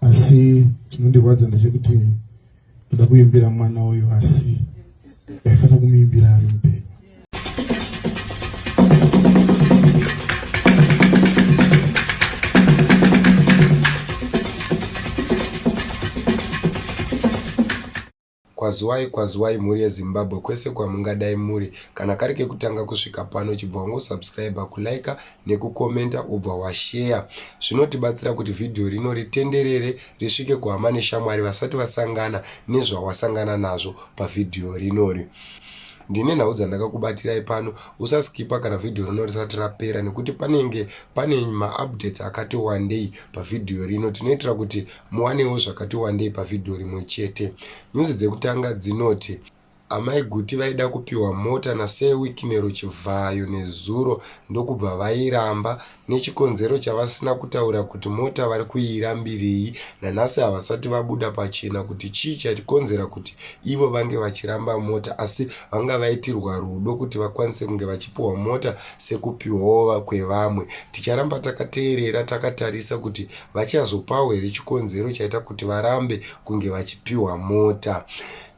asi chinondirwadza ndechekuti ndoda kuimbira mwana uyu asi ndaifanira kumuimbira ari mupenyu Kwaziwai kwaziwai mhuri ye Zimbabwe kwese kwamungadai muri kana kari kekutanga kusvika pano chibva wango subscriber ku liker neku commenter wobva wa share zvinotibatsira kuti video rino ritenderere risvike kuhama neshamwari vasati vasangana nezvawasangana nazvo pa video rinori ndine nhau dzandakakubatirai pano usaskipa kana video rino risati rapera nekuti panenge pane maupdates akati wandei pavhidhiyo rino tinoitira kuti Muwanewo zvakati wandei pavhidhiyo rimwe chete. Nyuzi dzekutanga dzinoti Amai Guti vaida kupiwa mota naSir Wicknero Chivhayo nezuro ndokubva vairamba nechikonzero chavasina kutaura kuti mota vari kuirambirei. Nanhasi havasati vabuda pachena kuti chii chakonzera kuti ivo vange vachiramba mota asi vanga vaitirwa rudo kuti vakwanise kunge vachipiwa mota sekupiwawo kwevamwe. Ticharamba takateerera takatarisa kuti vachazopawo here chikonzero chaita kuti varambe kunge vachipiwa mota.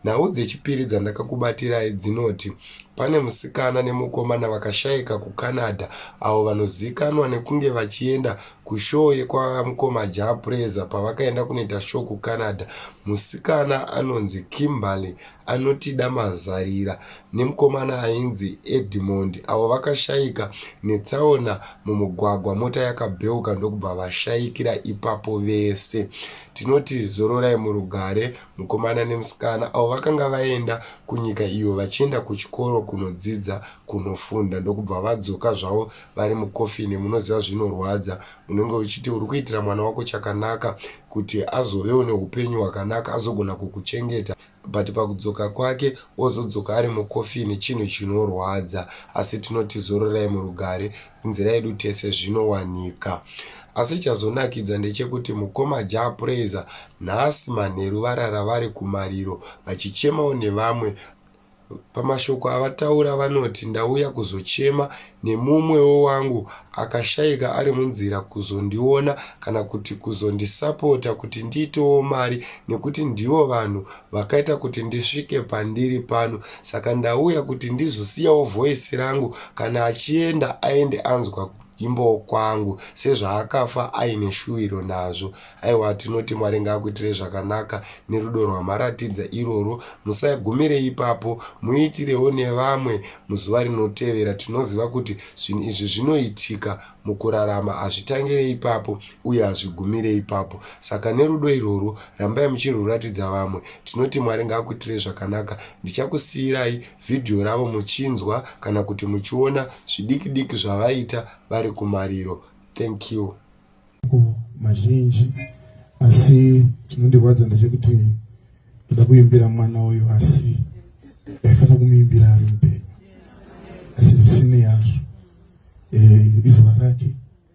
Nhau dzechipiri dzandakakubatirai dzinoti pane musikana nemukomana vakashaika kuCanada avo vanozivikanwa nekunge vachienda kushoo yekwamukoma Jah Prayzah pavakaenda kunoita shoo kuCanada. Musikana anonzi Kimberly anotida mazarira nemukomana ainzi Edmond avo vakashaika netsaona mumugwagwa mota yakabheuka ndokubva vashaikira ipapo vese. Tinoti zororai murugare mukomana nemusikana avo vakanga vaenda kunyika iyo vachienda kuchikoro kunodzidza kunofunda ndokubva vadzoka zvavo vari mukofini munoziva zvinorwadza unenge uchiti uri kuitira mwana wako chakanaka kuti azovewo neupenyu hwakanaka azogona kukuchengeta but pakudzoka kwake ozodzoka ari mukofini chinhu chinorwadza asi tinoti zororai murugare inzira yedu tese zvinowanika asi chazonakidza ndechekuti mukoma ja praiser nhasi manheru varara vari kumariro vachichemawo nevamwe Pamashoko avataura vanoti ndauya kuzochema nemumwewo wangu akashaika ari munzira kuzondiona kana kuti kuzondisapota kuti ndiitewo mari nekuti ndivo vanhu vakaita kuti ndisvike pandiri pano saka ndauya kuti ndizosiyawo voice rangu kana achienda aende anzwa Imbowo kwangu sezvaakafa aine shuwiro nazvo. Aiwa tinoti Mwari ngaakuitirei zvakanaka nerudo rwamaratidza irworwo. Musagumire ipapo, muitirewo nevamwe muzuva rinotevera. Tinoziva kuti zvinhu izvi zvinoitika mukurarama, hazvitangire ipapo uye hazvigumire ipapo. Saka nerudo irworwo rambai muchirwuratidza vamwe. Tinoti Mwari ngaakuitirei zvakanaka. Ndichakusiirai vhidhiyo ravo muchinzwa kana kuti muchiona zvidiki diki zvavaita vari kumariro. Thank you. Mazhinji asi chinondirwadza ndechekuti ndoda kuimbira mwana uyu asi ndaifanira kumuimbira ari mupenyu asi zvisinei hazvo eh, izuva rake